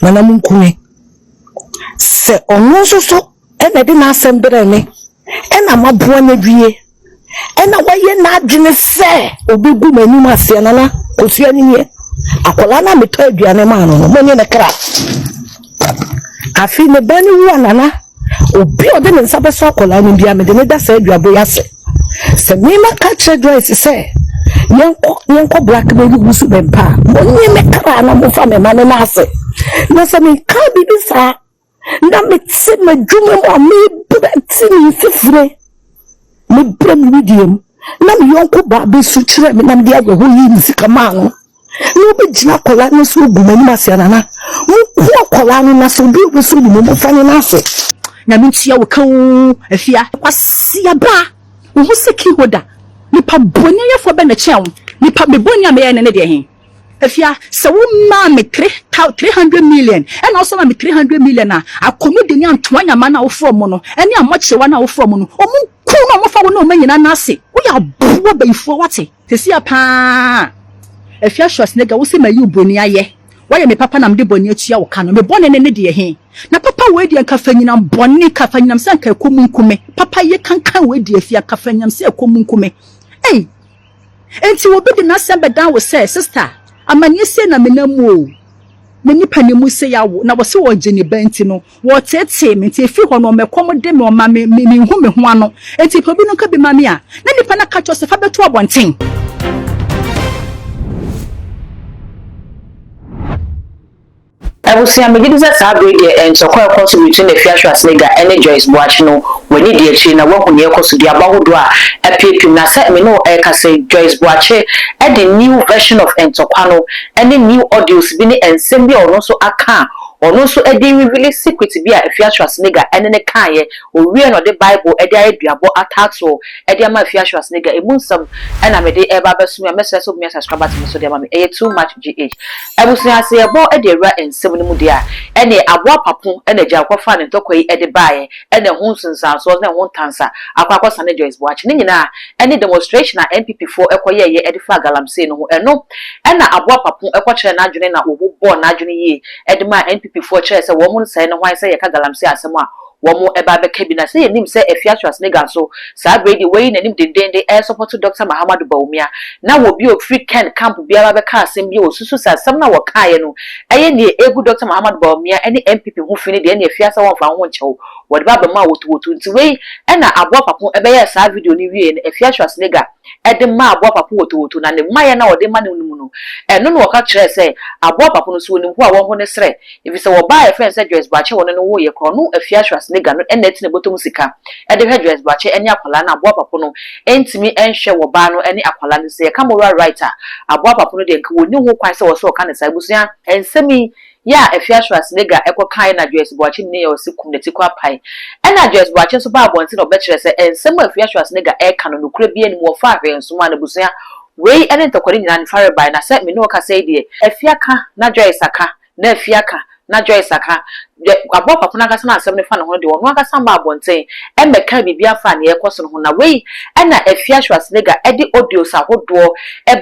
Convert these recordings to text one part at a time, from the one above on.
Nana Munkume, sɛ ɔno nso so na ɛde n'asɛm brɛɛ me na maboa no awie na wayɛ n'adwene sɛ ɔbɛgu m'anim aseɛ Nana Kosua no nie akwadaa no a metɔ aduane maa no no mo nye ne kra afei ne ba no wu a Nana Obi a ɔde ne nsa bɛsɔ akwadaa no biara, mede no da saa aduabo yi ase. Sɛ mema ka kyerɛ Joyce sɛ yɛnkɔ yɛnkɔ blackmail gu so bɛn pa a, monnye me kra na momfa me ma ne nan ase. Na sɛ menka biribi saa na mete m'adwuma mu a mebu bɛte ne mfifire. Mebɔɔ me wedeɛ mu, na me yɔnko baa bɛsu kyerɛɛ me na mede awerɛhoɔ yii me sika maa no. Na ɔbɛgyina akwadaa no so agu m'anim ase anana. Monku akwadaa no na sɛ obi a ɔbɛsɔ ne mu momfa ne nan ase. Nyame ntua wo ka oo Afia. Kwasiaba wo ho sɛ key holder. Nipa bɔne yɛfoɔ bɛ na ɛkyɛn wo? Nipa me bɔne a meyɛɛ no ne deɛ he? Afia, sɛ wo maa me three thou three hundred million ɛna wo san ma me three hundred million a, Akonodi ne Antoa Nyama no a wofrɛ ɔmo no ɛne Amokyerɛwa no a wofrɛ ɔmo no, ɔmo nku na ɔmo fa wo ne ɔmo anyina no ase. Woyɛ aboa bayifua wate. Sɛsi a paa Afia Schwarzenegger wo se mayi wo boni ayɛ, woayɛ me papa na mede bɔne atua wo ka no, me bɔne no ne deɛ he? Na papa wei deɛ nka fa nyinam bɔne ka fa nyinam sɛ nka ɛkɔ mu nku me, papa ye kankan wei deɛ Afia ka fa nyinam sɛ ɛkɔ mu nku me ei. Enti obi de n'asɛm bɛdan wo sɛ, Sista, amanneɛ sei na menam mu o, me nipa no mu sei awo, na wɔse wɔgye ne ba nti no, wɔteetee me, nti ɛfiri hɔ no ɔma ɛkɔm de me, ɔma me, me, menhu me ho ano. Enti pɛ obi no nka bi ma me a, na nipa no aka akyerɛ wo sɛ, Fa bɛto abɔnten. Abusua, megye di sɛ saa bere yi deɛ ntɔkwa a ɛkɔ so between Afia Schwarzenegger ne Joyce Boakye no, w'ani di akyire na woahu nea ɛkɔ so, duaba ahodoɔ a apiapim. Na sɛ me ne wo rekasa yi, Joyce Boakye de new version of ntɔkwa no ne new audios bi ne nsɛm bi a ɔno nso aka a ɔno nso de rewili secret bi a Afia Schwarzenegger ne no kaeɛ. Ɔwieɛ na ɔde Bible de ayɛ duabɔ ataatoɔ de ama Afia Schwarzenegger. Ɛmu nsɛm na mede reba abɛso me a, mɛsrɛ sɛ wobɛnya subscribers me so de ama me. Ɛyɛ too much GH. Abusua sɛ yɛbɔ de awura nsɛm no mu deɛ a, ɛneɛ aboa apapo na agya kɔfaa ne ntɔkwa yi de baeɛ na ɛho nsunsuansoɔ ne ɛho ntansa akɔ akɔsa ne Joyce Boakye ne nyinaa ɛne demonstration a NPP foɔ kɔ yɛeɛ de faa Galamsey no ho ɛno na aboa apapo kɔ kyerɛɛ n'adwene na wɔbobɔɔ n'adwene yie de maa NPP foɔ kyerɛɛ sɛ wɔn nsɛe no hwan sɛ yɛka Galamsey asɛm a Wɔn ɛba bɛka bi na sɛ yɛnim sɛ afia to asenegal so saa berɛ yi deɛ wayi nanim dendeenden ɛresɔpɔto Doctor Mahamadou Bawumia na wɔ bi a ɔfiri Ken camp biara bɛka asɛm bi a wɔsusu sɛ asɛm no a wɔkaeɛ no ɛyɛ neɛ ɛregu Doctor Mahamadou Bawumia ɛne NPP ho fi no deɛ ɛneɛ afia sɛ wɔmfa ho nkyɛ wo wɔde ba abɛma wo wotowoto nti wei ɛna aboa papo ɛbɛyɛɛ saa video no wieɛ no afia to asenegal de maa aboa baako wotowoto, na ne mmaeɛ no a ɔde ma no no mu no, ɛno na ɔka kyerɛɛ sɛ aboa baako no, sɛ ɔnim hɔ a, wɔnho ne serɛ. Efisɛ wɔ baa a yɛfrɛ no sɛ Joyce Boakye wɔ no no wooyɛ korɔ no, afie Ashwasnega no na ɛte ne bɔtɔ mu sika de hwɛ Joyce Boakye ne akwadaa no, aboa baako no ntumi nhwɛ wɔ baa no ne akwadaa no. Sɛ yɛka moral right a, aboa baako no deɛ nka wɔnni ho kwan sɛ wɔsɛ wɔka ne saa. Abusua. Nsɛm yi, Yɛ a Afia Schwarzenegger kɔ kae na Joyce Boakye menee yɛ ɔse kum ne ti kɔ apae. Ɛna Joyce Boakye nso baa abɔnten na ɔbɛkyerɛɛ sɛ nsɛm a Afia Schwarzenegger ɛreka no nokorɛ biaa nni mu, wɔfaa hwee nsomaa n'abusua. Wei ne ntɔkwari nyinaa ne fare bae, na sɛ mene wo kasa yi deɛ, Afia ka na Joyce aka, na Afia ka na Joyce aka, deɛ aboa kwapo no ankasa na asɛm no fa ne ho no deɛ ɔno ankasa mmaa abɔnten mmɛkaa biribiaa faa neɛ ɛrekɔ so no ho. Na wei na Afia Schwarzenegger de audios ahodoɔ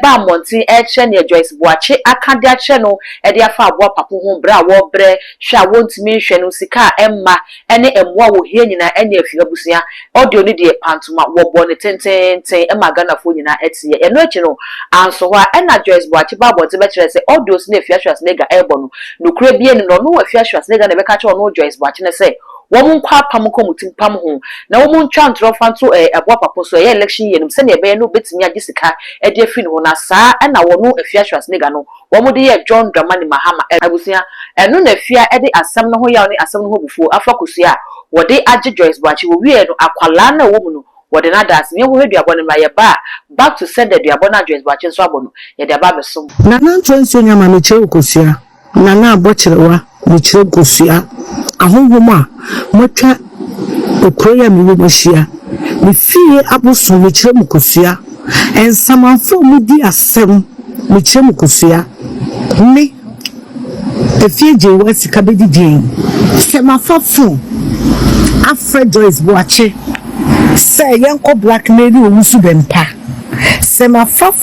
baa mmɔnten ɛrekyerɛ neɛ Joyce Boakye aka de akyerɛ no de afa aboa papo ho bere a wɔrebrɛ hwɛ a wontumi nhwɛ no, sika a ɛmma, ne mmoa a wohia nyinaa anya afi abusua. Audio no deɛ, pantoma, wɔbɔɔ no tenteenten maa Ghanafoɔ nyinaa teeɛ. Ɛno akyi no, anso hɔ ara, ɛnna Joyce Boakye baa abɔnten bɛkyerɛɛ sɛ audios no a Afia Schwarzenegger rebɔ no, nokorɛ biara nnim, na ɔno Afia Schwarzenegger na ɛbɛka akyerɛ ɔno Joyce Boakye no sɛ wɔnkɔ apam nkɔ wɔn ti mpam ho, na wɔntwa ntorɔ mfa nto aboa papo so, ɛyɛ election year no mu, sɛdeɛ ɛbɛyɛ na wɔbɛtumi agye sika de afiri ne hɔ, na saa na ɔno Afia Schwarzenegger no, wɔde yɛɛ John Dramani Mahama abusua, ɛno na fie a ɛde asɛm no ho yaw ne asɛm no ho abufuo afa kosua a wɔde agye Joyce Boakye, wɔwiee no akwadaa no a ɔwɔ mu no wɔde no ada ase, Yɛnhɔhwɛ duabɔ no mmra, yɛba a back to sender duabɔ no a Joyce Boakye nso abɔ no, yɛde aba abɛsom. Nana Nkyɛ Nsuo Nyama Mekyerɛ wo kosua, Nana abɔ kyerewa. Mekyerɛ kosua ahonhom a moatwa kuro yi a mewɔ mu ahyia. Me fie abosom, mekyerɛ mo kosua nsamanfo a wɔdi asɛm, mekyerɛ mo kosua. Me, Efie Gyeiwaa Sika bɛdi din sɛ mafa fon afrɛ Joyce Boakye sɛ yɛnkɔ blackmaili owusu Bɛmpa, sɛ mafa.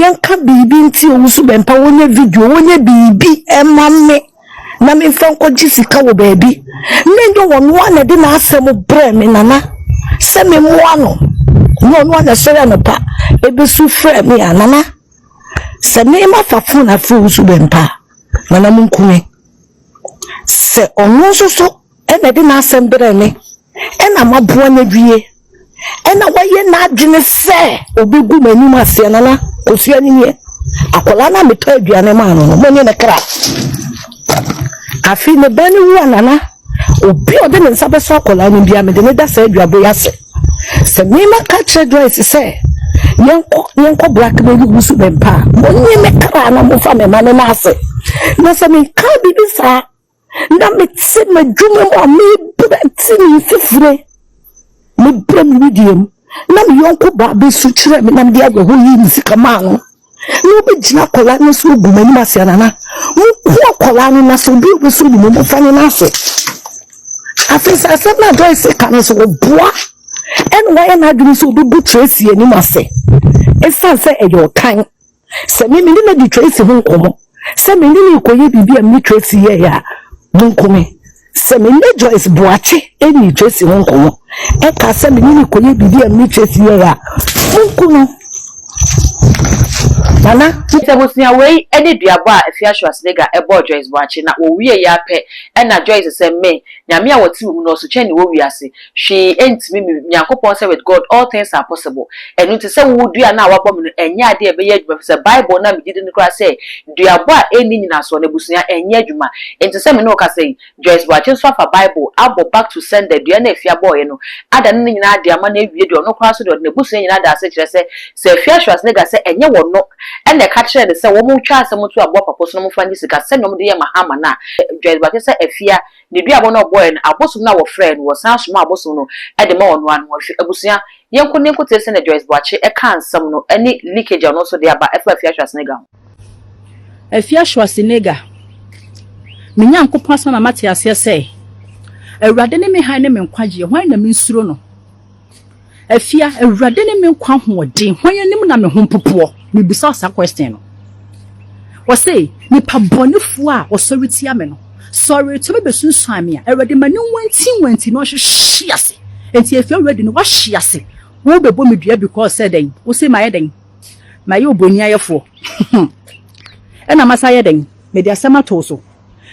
Yɛnka biribi nti owu so bɛmpa wɔnyɛ video wɔnyɛ biribi ɛma me na memfa nkɔgye sika wɔ baabi na ɛnyɛ wɔn a na ɛde n'asɛm brɛ me nana sɛ memmoa no na ɔno a na ɛsɔre anɔpa ɛbɛsu frɛ me a nana sɛ mema fa fon afrɛ owu so bɛmpa nana monkume sɛ ɔno nso so Ɛna ɛde n'asɛm brɛɛ me, ɛna maboa no awie. Ɛna wayɛ n'adwene sɛ ɔbɛgu m'anim aseɛ, Nana Kosua no nie. Akwadaa no a metɔ aduane maa no no, mo ne ne kra. Afei ne ba no wu a, Nana, obi a ɔde ne nsa bɛsɔ akwadaa no biara, mede ne da saa aduabo yi ase. Sɛ mema ka kyerɛ Joyce sɛ yɛnkɔ yɛnkɔ black baby gu so bɛmpa a, mo ne me kra na mofa me ma ne nan ase. Na sɛ menka biribi saa na mete m'adwuma mu a mebrɛ te ne mfifire mebrɛ me wedeɛ mu na me yɔnko baa bɛsu kyerɛ me na mede awerɛho yii me sika maa no na wobɛgyina akwadaa no so agu m'anim ase anana moku akwadaa no na sɛ obi a wobɛsɔ ne mu mofa ne no ase afei sɛ asɛm no adɔe sɛ ka no sɛ wɔboa ɛna wayɛ n'adwene sɛ wobɛbu tracy anim ase ɛsiane sɛ ɛyɛ ɔtan Sɛ me me ne Lady Tracy ho nkɔmmɔ, sɛ me ne no rekɔyɛ biribi a me ne Tracy yɛeɛ a, monkome. Sɛ me ne Joyce Boakye ɛnni Tracy ho nkɔmmɔ, ɛka sɛ me ne no rekɔyɛ biribi a me ne Tracy yɛeɛ a, monku no. Nana. Sɛ abusua wei ne duabɔ a Afia Schwarzenegger bɔɔ Joyce Boakye na wɔwieeɛ ara pɛ na Joyce sɛ, Me, Nyame a wɔte wo mu no, ɔso kyɛn ne wɔ wiase. Hwee ntumi me Nyankopɔn sɛ with God all things are possible. Ɛno nti sɛ wowɔ dua no a wɔabɔ me no ɛnyɛ adeɛ a ɛbɛyɛ adwuma ɛfiri sɛ Bible no a megye di no koraa sɛ duabɔ a ɛnni nyinasoɔ no abusua ɛnyɛ adwuma. Enti sɛ me ne wo kasa yi, Joyce Boakye nso afa Bible abɔ back to sender dua no a Afia bɔeɛ no adane ne nyinaa ade ama no awie deɛ ɔno koraa nso deɛ ɔde n'abusua nyinaa daa ase kyerɛ sɛ sɛ Afia Schwarzenegger sɛ ɛnyɛ wɔno na ɛka kyerɛɛ no sɛ wɔntwa asɛm nto aboa papa so na wɔmfa nye sika sɛdeɛ wɔde yɛ Mahama no a Joyce Boakye sɛ Afia Ne duabɔ no a ɔbɔɔɛ no, abosom no a wɔfrɛɛ no, wɔsan somaa abosom no de maa ɔnoaa no ho. Hwɛ abusua yɛnko ne yɛnko tee sɛnea Joyce Boakye kaa nsɛm no ne leakage a ɔno nso de aba ɛfa Afia Schwarzenegger ho. Afia Schwarzenegger, Me Nyankopɔn asɛm ama mate aseɛ sɛ Awurade ne me hann ne me nkwagyeɛ, hwan na mensuro no? Afia, Awurade ne me nkwa ahoɔden, hwan anim na me ho mpopoɔ? Mebisa saa question no. Ɔse, nipa bɔnefoɔ a ɔsɔre tia me no, sɔre tumi bɛsunsuan me a, Awurade ma ne nwantinwanti na ɔnhwehwe ase. Enti Afia already no, wahwe ase. Wobɛbɔ me dua because sɛ dɛn? Wose mayɛ dɛn? Mayɛ oboniayɛfoɔ. Ɛna masa ayɛ dɛn? Mede asɛm ato wo so.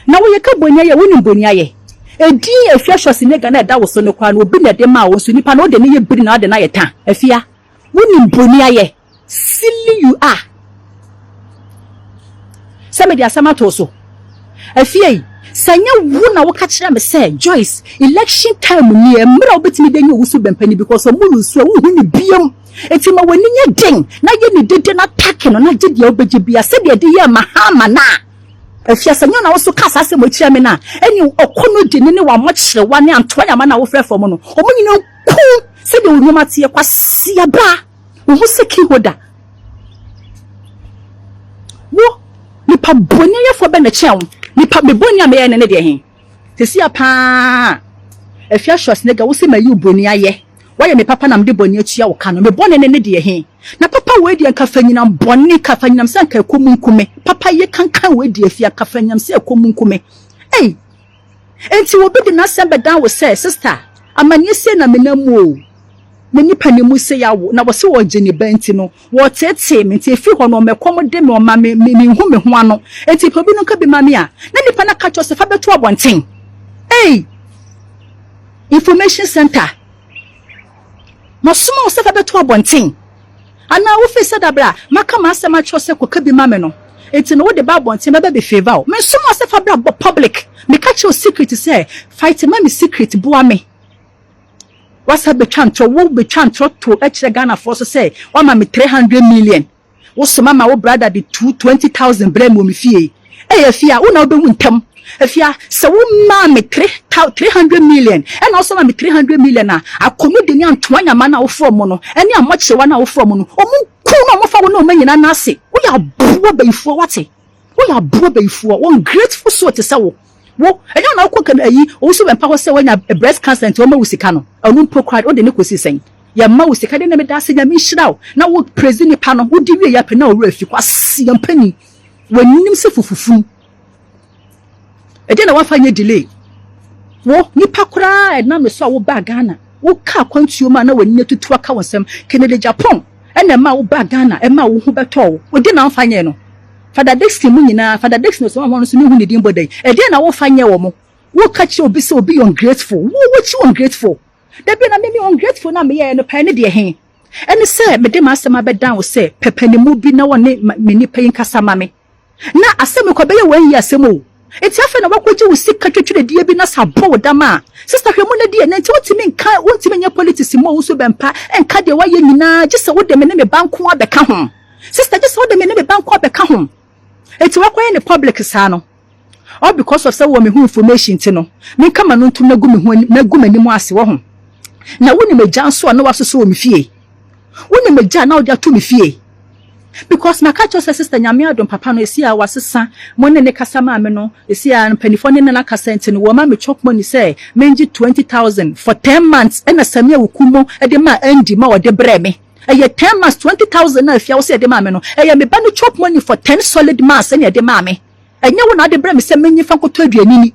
Na wo yeka boniayɛ wonim boniayɛ edin efia shɔsi nega na ɛda woso no koraa no obi na ɛde maa wo nso nipa no ode no yɛ biri na ade no ayɛ ta afia wonim boniayɛ silly you are sɛ mede asɛm ato wo so afia yi sɛ nyɛ wo na woka kyerɛ me sɛ Joyce election time ni mmerɛ a wobɛtumi de nyɛ owu so bɛmpa ni because ɔmo lusu a wohu ne biam eti ma w'ani nyɛ den na yɛ ne dede na take no na gye deɛ wobɛgye bia sɛdeɛ ɛde yɛ Mahama no a Ɛfiri a sɛ nyɛ na wo nso ka saa asɛm yi kyerɛ me no a, ɛnneɛ wo ɔkɔnnɔdini ne w'amokyerɛwa ne antoayama no a wofrɛ fam no, wɔn nyinaa nkum sɛdeɛ wo nneɛma teɛ. Kwasia ba, wo ho sɛ key holder. Wo, nipa bɔne yɛfoɔ bɛn na ɛkyɛn wo? Nipa, me bɔne a meyɛɛ no ne deɛ he? Sesia paa Afia Schwarzenegger wose mayi wo broni ayɛ wayɛ me papa na mede bɔne atua wo ka no me bɔne ne ne deɛ he na papa wei deɛ nka fa nyinam bɔne ka fa nyinam sɛ nka ɛkɔ mu nku me papa ye kankan wei deɛ afia nka fa nyinam sɛ ɛkɔ mu nku me ei enti obi de n'asɛm bɛdan wo sɛ sista amanneɛ sei na menam mu o me nipa ne mu sei awo na wɔse wɔgye ne ba nti no Wɔteetee me, enti efi hɔ no ɔmɛkɔm de me, ɔma me, me, minhu me ho ano. Enti pɛ obi no nka bi ma me a, na nnipa no aka akyerɛ wo sɛ fa bɛto abɔnten. Ei! Information Centre, masoma wo sɛ fa bɛto abɔnten? Anaa wofii sɛ da bere a maka m'asɛm akyerɛ wo sɛ kɔka bi ma me no, enti na wode ba abɔnten mɛba abɛfeeva wo? Mensomaa wo sɛ fa bra public, meka kyerɛ wo secret sɛ fight ma me secret, boa me. W'asa betwa ntorɔ, wo betwa ntorɔ to kyerɛ Ghana foɔ so sɛ w'ama me three hundred million, wo so m'ama wo brada de two twenty thousand brɛ me wɔ me fie yi, ei Afia wo na wo behu ntɛm, Afia sɛ wo maa me three thou three hundred million ɛna wo so ma me three hundred million a, Akomede ne Antoa Nyama no a wo foɔ ɔmo no ɛne Amoakyerewa no a wo foɔ ɔmo no, ɔmo nku na ɔmo fa wo ne ɔmo anyina nna ase, wo yɛ aboa bayifoɔ w'ate. Woyɛ aboa bayifoɔ, wo ungrateful soul te sɛ wo, wo, ɛnyɛ wo na wokɔ Ghana ayi owusu bɛmpa hɔ sɛ wanya breast cancer nti wɔmma wo sika no, ɛno mpo koraa wode ne kɔsi sɛn? Yɛmma wo sika deɛ na meda ase Nyame nhyira wo na wo praise nipa no, wodi wieɛ pɛ na wo werɛ afi, kwaseɛ mpanin, w'anim sɛ fufufunu. Ɛdeɛn na woafa nyɛ delay? Wo, nipa koraa a ɛnam ne so a wobaa Ghana, wokaa akwantuo mu a na w'ani atutu aka wo nsam, Kennedy Agyapong na ɛmaa wobaa Ghana, ɛmaa wo ho bɛtɔɔ wo. Wo deɛ na woamfa nyɛɛ no? Fada Dickson mu nyinaa, Fada Dickson Osamahon nso menhu ne din bɔ da yi, ɛdeɛn na wofa nyɛɛ wɔn? Woka kyerɛ obi sɛ obi yɛ ungrateful, wo, wokyi ungrateful. Da bi na me, me ungrateful no a meyɛɛ no pɛɛ ne deɛ he? Ɛne sɛ mede m'asɛm abɛdan wo sɛ pɛpɛnimu bi na wɔne me nipa yi nkasa ma me. na asɛm yi kɔ bɛyɛ wɔn yie asɛm o eti afei na wakɔgye wo sika twetweredie bi na sɛ abɔ wo dam a sista hwɛ mu na die na nti wontumi nka wontumi nyɛ politics mu a wo nso bɛmpa nka deɛ wayɛ nyinaa gye sɛ wode me ne me ba nko ara bɛka ho sista gye sɛ wode me ne me ba nko ara bɛka ho eti wakɔyɛ ne public saa no All because of sɛ wɔ me ho information nti no, menka m'ano ntom na gu me ho anim, mɛgu m'anim ase, wɔho. Na wonim agya nso a na wasosɔ wɔ me fie? Wonim agya a na wode ato me fie? Because maka kyerɛ wo sɛ sister Nyame adom papa no ɛsi a wasesa mo ne ne kasa maame no, ɛsi a mpaninfoɔ ne no na kasa nti no wɔma me chop money sɛ mengye twenty thousand for ten months ɛna Sammy Awukumo de maa Andy ma ɔde brɛɛ me. Ɛyɛ ten months twenty thousand na afia wo sɛ ɛde maa me no ɛyɛ me ba no chop money for ten solid months ɛna ɛde maa me. Ɛnyɛ wo na wode brɛ me sɛ menyi fa nkɔtɔ aduane ni?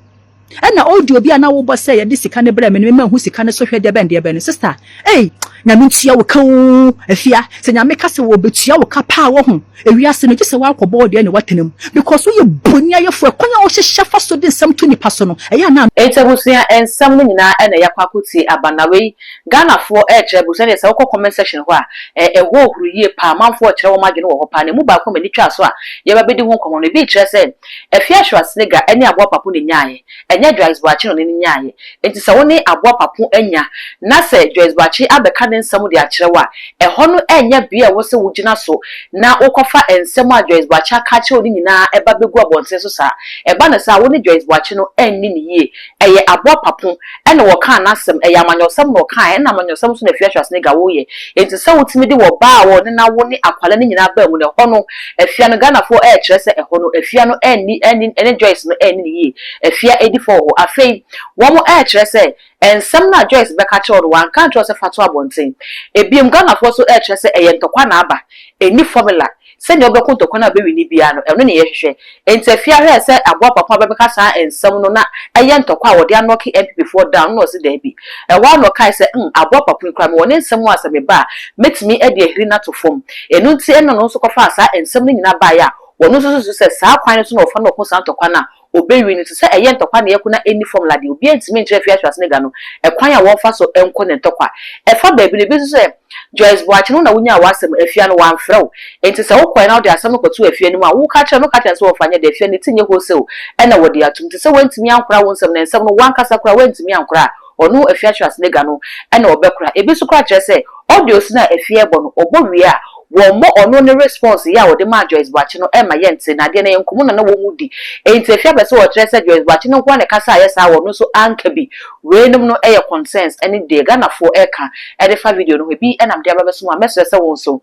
Ɛna audio bi a na wobɔ sɛ yɛde sika no brɛ me no, me manhu sika no so hwɛ deɛbɛn deɛbɛn no. Sister, ei! Nyame ntua wo ka oo! Afia, sɛ Nyame ka sɛ ɔbɛtua wo ka paa wahu, ewiase no, gye sɛ woakɔbɔ wo deɛ na woatena mu. Because woyɛ boniayɛfoɔ, ɛkwan a wohyehyɛ fa so de nsɛm to nnipa so no, ɛyɛ a na. Enti abusua nsɛm no nyinaa na yɛakɔ akɔtie aba, na wei Ghanafoɔ rekyerɛ bo sɛdeɛ sɛ wokɔ comment section hɔ a, ɛ, ɛhɔ huru yie paa, amanfoɔ rekyerɛ wɔn adwene wɔ hɔ paa, na ɛmu baako a m'ani twaa so a yɛreba abɛdi ho nkɔmmɔ no, ebi rekyerɛ sɛ Afia Schwarzenegger ne Aboa Papo na ɛnyaaeɛ, ɛnyɛ Joyce Boakye na ɔne no nyaaeɛ. Enti sɛ wo ne Aboa Papo anya, na sɛ Joyce Boakye abɛka ne nsɛm de akyerɛ wo a, ɛhɔ no ɛnyɛ bea a ɛwɔ sɛ wogyina so na wokɔfa nsɛm a Joyce Boakye aka akyerɛ wo no nyinaa ba bɛgu abɔnten so saa. Ɛba no saa a, wo ne Joyce Boakye no anni no yie, Ɛyɛ aboa papo ɛna wɔkaa nasɛm, ɛyɛ amanyɔsɛm na ɔkaɛ ɛna amanyɔsɛm nso na Afia Schwarzenegger woyɛ. Enti sɛ wotumi de wɔ baa a wɔ ne nawo ne akwalaa no nyinaa baa mu no ɛhɔ no Afia no Ghanafoɔ ɛɛkyerɛ sɛ ɛhɔ no Afia no ɛɛnni ɛne ɛne Joyce no ɛɛnni no yie. Afia ɛdi fɔ wɔ hɔ. Afei wɔn ɛɛkyerɛ sɛ ɛnsɛm no a Joyce bɛka kyerɛ wo no wanka ankyerɛ wo sɛ fa to abɔnten. Ɛbiom Ghanafoɔ nso ɛɛkyerɛ sɛ ɛyɛ ntɔkwa na aba. Ɛnni formula. Sɛnea ɔbɛko ntɔkwa no a ɔbɛwe no biara no, ɛno na yɛhwehwɛ. Enti afie aha ɛsɛ sɛ aboa papa bi bɛka saa nsɛm no na ɛyɛ ntɔkwa a wɔde anɔke NPP foɔ down no na ɔse daabi. Ɛhɔ ara na ɔkae sɛ hmm aboa papa yi koraa mewɔ ne nsɛm a sɛ meba a mɛtumi de ahiri no ato fam. Ɛno nti ɛna ɔno nso kɔfaa saa nsɛm no nyinaa baeɛ a ɔno nso susu sɛ saa kwan no so na wɔfa no ɔko saa ntɔkwa no a Obewie no, te sɛ ɛyɛ ntɔkwa na ɛyɛ ko na enni fɔmula de, obiara ntumi nkyerɛ Afi Asoase no Agya no kwan a wɔmfa so nkɔ ne ntɔkwa. Ɛfa baabi no, ebi nso sɛ, Joyce Boakye no na wunyaa w'asɛm, Afia no, wamfrɛ wo. Enti sɛ wokɔe na wode asɛm no kɔtoo Afia no mu a, woka kyerɛ no, ka kyerɛ no sɛ wɔmfa nyɛ dɛ, Afia no, ne ti nyɛ wholesale na wɔde atom. Te sɛ wantumi ankora wo nsɛm, na nsɛm no, wo ankasa koraa woantumi ankora a, Ɔno afie akyerɛ ase no agua no na ɔbɛkora. Ebi nso koraa kyerɛ sɛ ɔde osin a afie rebɔ no ɔbɔ wie a wɔmmɔ ɔno ne response yɛ a ɔde maa Joyce Boakye no ɛmma yɛnte na adeɛ no ɛyɛ nkɔmmɔ na na wɔn di enti afie apɛ sɛ ɔkyerɛ sɛ Joyce Boakye no nko ara na ɛka sɛ ayɛ saa a ɔno nso anka bi. Weinom no yɛ concerns ne deɛ Ghanafoɔ ɛka ɛde fa video no ho ebi nam de aba bɛso mu a mɛsrɛ sɛ wo nso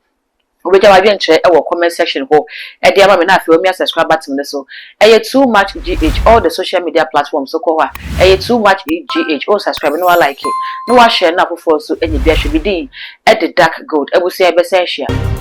Wobegya w'adwenkyerɛ wɔ comment section hɔ de ama me na afei wamia subscribe button no so. Ɛyɛ too much GH all the social media platforms wokɔ hɔ a ɛyɛ too much GH wo subscribe na walike na washare na afoforɔ nso anya bi ahwɛ me din de dark gold abusua yɛbɛsan ahyia.